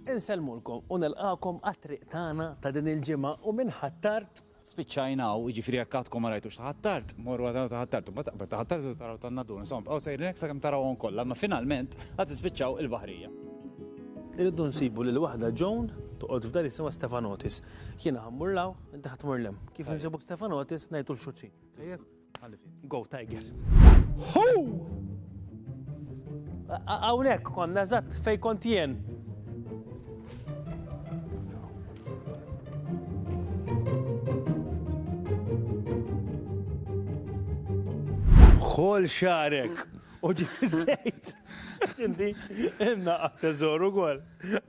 Insellmulkom u nilqagħkom għat-triq tagħna ta' din il-ġimgħa u minn Ħ'Attard. Spiċċajna hawn, jiġifieri jekk għadkom ma rajtux Ħ'Attard, morru għal tagħna ta' Ħ'Attard, imbagħad aqbel ta' Ħ'Attard tridu taraw tan-Nadduna, insomma bqgħu sejrin hekk sakemm tarawhom kollha, imma finalment għad tispiċċaw il-baħrija. Irridu nsibu lil waħda Joan toqgħod f'dar jisimha Stefanotis. Jiena ħa mmur 'l hawn, inti ħa tmur 'l hemm. Kif insibu Stefanotis ngħidu l-xuċin. Tajjeb? Go Tiger! Hu! Hawnhekk konna eżatt fejn kont jien. Ħol xarek u ġizzejt. Ġindi, inna għattezor u għol.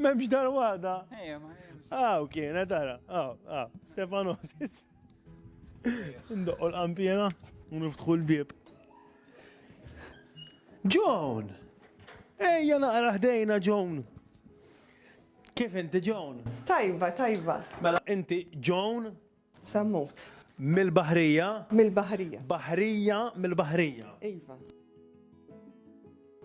Memx dar wada. Għaw kienet, għara, għaw, għaw, Stefanotis. Ndoqqu l-qampjena u niftħu l-bib. John! Ejja naqra ħdejna John. Kif inti John? Tajba, tajba. Mela inti John? Sammut. Mil-bahrija? Mil-bahrija. Bahrija mil-bahrija. Iva.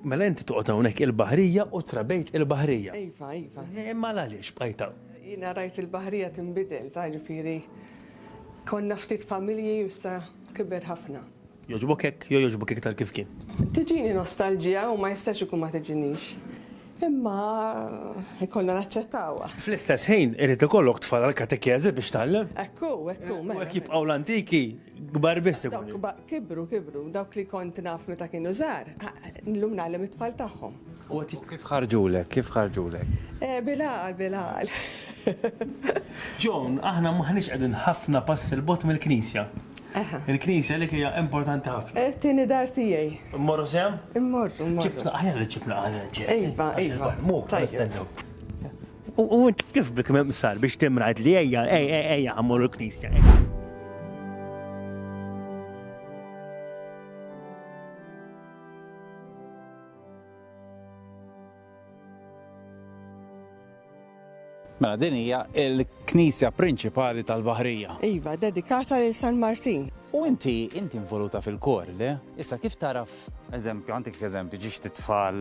Mela inti toqgħod hawnhekk il-baħrija u trabejt il-baħrija. Iva, iva. Imma għaliex bqajt hawn? Jiena rajt il-baħrija tinbidel, ta' ġifieri konna ftit familji u issa kiber ħafna. Jogħġbok hekk jew jogħġbok iktar kif kien? Tiġini nostalġija u ma jistax ikun ma tiġinix. Imma ikollna naċċettawha. Fl-istess ħin irid ikollok tfal għall-katekeżi biex tgħallem. Ekku, ekku, mela. Hekk jibqgħu l-antiki. Kbar biss ikun. Kibru, kibru, dawk li kont naf meta kienu żgħar, llum nagħlem it-tfal tagħhom. U kif ħarġulek, kif ħarġulek? Eh, bilaqal, bilaqal. Ġon, aħna maħniex qegħdin ħafna pass il-bot mill-knisja. Il-knisja li hija importanti ħafna. Eh, tieni dar tiegħi. Immorru sem? Immorru, immorru. Ċipna, ħajja li ċipna għal Iva, iva. Mu, tajjeb. U int kif bik mimsar biex timrajt li ejja, ejja, ejja, għamur il-knisja. Mela din hija l-knisja prinċipali tal-Baħrija. Iva, dedikata lil San Martin. U inti inti involuta fil-kor, le? Issa kif taraf, eżempju, għandek eżempju, ġiex titfal,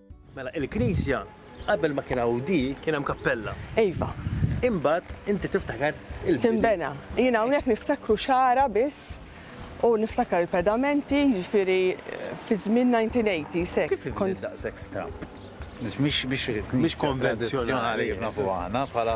Mela il-knisja qabel ma kien hawn di kien hemm kappella. Iva. Imbagħad inti tiftakar il-bini. Tinbena. Jien hawnhekk niftakru xagħra biss u niftakar il-pedamenti, jiġifieri fi żmien 1980s hekk. Kif inbniet daqshekk stramba? Mhix konvenzjonali kif nafuha aħna bħala.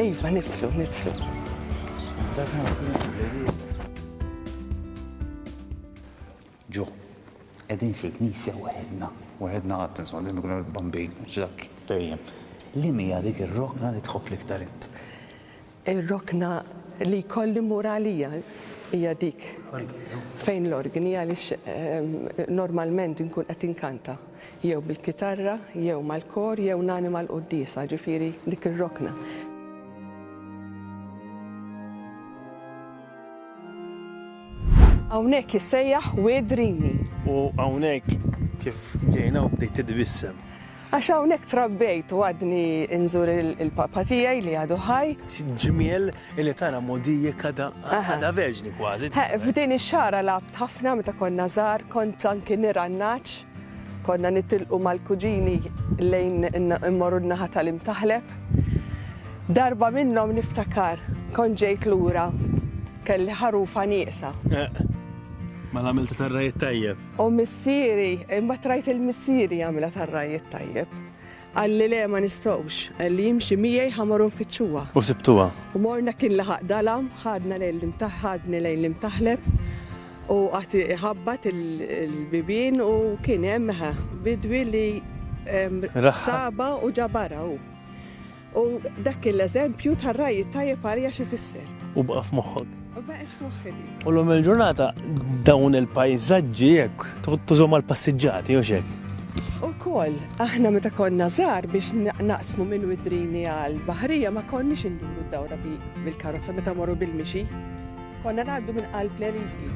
Iva, nitlu, nitlu. Ġo, edin fil-knisja waħedna, waħedna għad, insomma, li nkunu bambin, ġak, perjem. Li mija dik ir-rokna li tħobb l-iktar int? Ir-rokna li kolli muralija hija dik. Fejn l-organi għaliex ehm, normalment nkun qed inkanta. jew bil-kitarra, jew mal-kor, jew nanima l-quddiesa, ġifieri dik ir-rokna. Hawnhekk jissejjaħ Wedrini. U hawnhekk kif ġejna u bdejt titbissem. Għax hawnhekk trabbejt u għadni nżur il-papa tiegħi li għadu ħaj. Ġmiel Illi tara mogħdijek għadha għadha verġni kważi. He, f'din ix-xagħra lgħabt ħafna meta konna żgħar, kont anki nirgħannaġ. Konna nitilqu mal-kuġini lejn immorru n-naħa tal-Imtaħleb. Darba minnhom niftakar kont ġejt lura kelli ħarufa nieqsa. Mela għamilta tar-rajiet tajjeb. U missieri, imma trajt il-missieri għamilha tar-rajiet tajjeb. Qal li le ma nistgħux. Qal li jimxi miegħi ħa morru nfittxuha. U sibtuha. U morna kien laħaq dalam, ħadna lejn l-imtaħ, ħadni lejn l-imtaħleb u qagħad iħabbat il-bibien u kien hemm eħe bidwi li sabha u ġabarha hu. U dak kien l-eżempju tar-ragħaj it-tajjeb għalija x'ifisser. U baqa' f'moħħok. U l-lum il-ġurnata dawn il-pajzaġġi jekk tużom għal-passiġġati u xek. U koll, aħna meta konna zar biex naqsmu minn widrini għal-bahrija ma konniex induru d-dawra bil-karozza meta morru bil-mixi. Konna għaddu minn qalb l-eliti.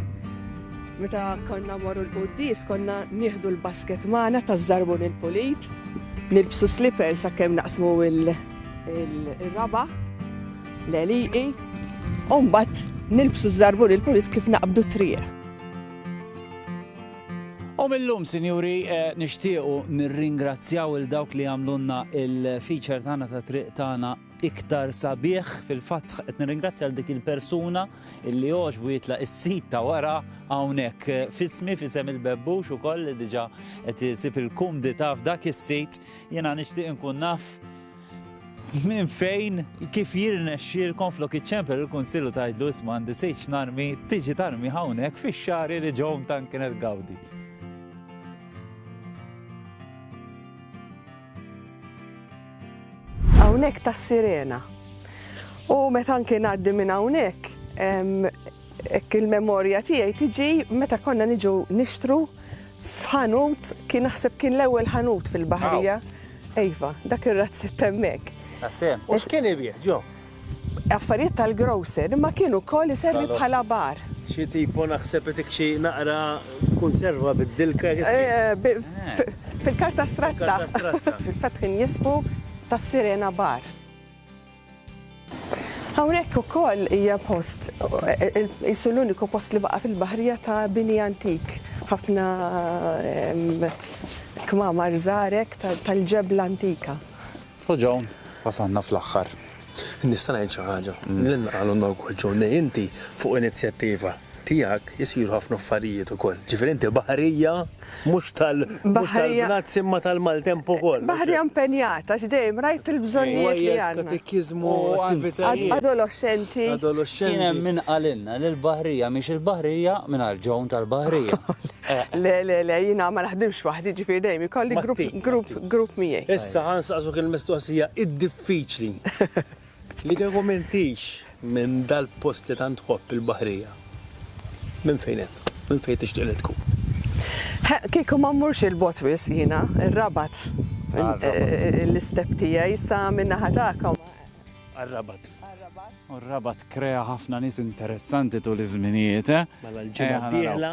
Meta konna morru l-qoddis, konna nieħdu l-basket maħna ta' zarbun il-pulit, nilbsu slippers sa' kem naqsmu il-raba. l-għelieqi u mbagħad nilbsu ż-żarbun il-pulit kif naqbdu t-triq. U mill-lum, sinjuri, eh, nixtiequ nirringrazzjaw il dawk li għamlunna il-feature tagħna ta' triq tagħna iktar sabiħ fil-fatt qed nirringrazzja għal dik il-persuna illi għoġbu jitla is-sit ta' wara hawnhekk eh, fismi fisem il-bebbux ukoll li diġà qed isib il-kumdità f'dak is-sit jiena nixtieq inkun naf Minn fejn, kif jirnexxielkom flok iċċempel il-Kunsill u tgħidlu isma' għandi sejċ narmi, tiġi tarmi hawnhekk fix-xari li ġewhom tant kienet gawdi. Hawnhekk tas-sirena. U meta anke ngħaddi minn hawnhekk, Hekk il-memorja tiegħi tiġi meta konna niġu nixtru f'ħanut kien naħseb kien l-ewwel ħanut fil-Baħrija. Iva, dak ir-razzett hemmhekk. Għattem, u x'kien ibieħ ġo? Affarijiet tal-grocer, imma kien ukoll iservi bħala bar. Xi tipo naħseb itik xi naqra kunserva bid-dilka. Fil-karta strazza. Fil-fatt kien jismu tas-Sirena Bar. Hawnhekk ukoll hija post qisu l-uniku post li baqa' fil-baħrija ta' bini antik. Ħafna ehm, kmamar żarek tal-ġebla antika. U Ġon, wasanna fl-aħħar. Nista' ngħid xi ħaġa. Mm. Li nqalulna wkoll Ġon li inti fuq inizjattiva tiegħek isiru ħafna affarijiet ukoll. Ġifieri inti baħrija Mhux tal, mhux tal-Bnazzi imma tal-maltemp ukoll. Baħrija impenjat għax dejjem rajt il-bżonnijiet li għandna. Katekiżmu, attivitajiet. Adoloxxenti. Adoloxxenti. Kien hemm min qalilna li l-baħrija mhix il-baħrija mingħajr Joan tal-baħrija. Le, le, le, jiena ma naħdimx waħdi, ġifieri dejjem ikolli grupp, grupp, grupp miegħi. Issa ħa nsaqsuk il-mistoqsija id-diffiċli. Li kieku m'intix minn dal-post li tant tħobb il-baħrija, minn fejn int? Minn fejn tixtieq li tkun? Ħa, kieku ma mmurx 'il bogħod wisq jiena, ir-Rabat. L-istep tiegħi sa min-naħa tagħkom. Għar-Rabat. Għar-Rabat. U r-Rabat krea ħafna nies interessanti tul iż-żminijiet, eh? Mela l-ġimgħa d-dieħla.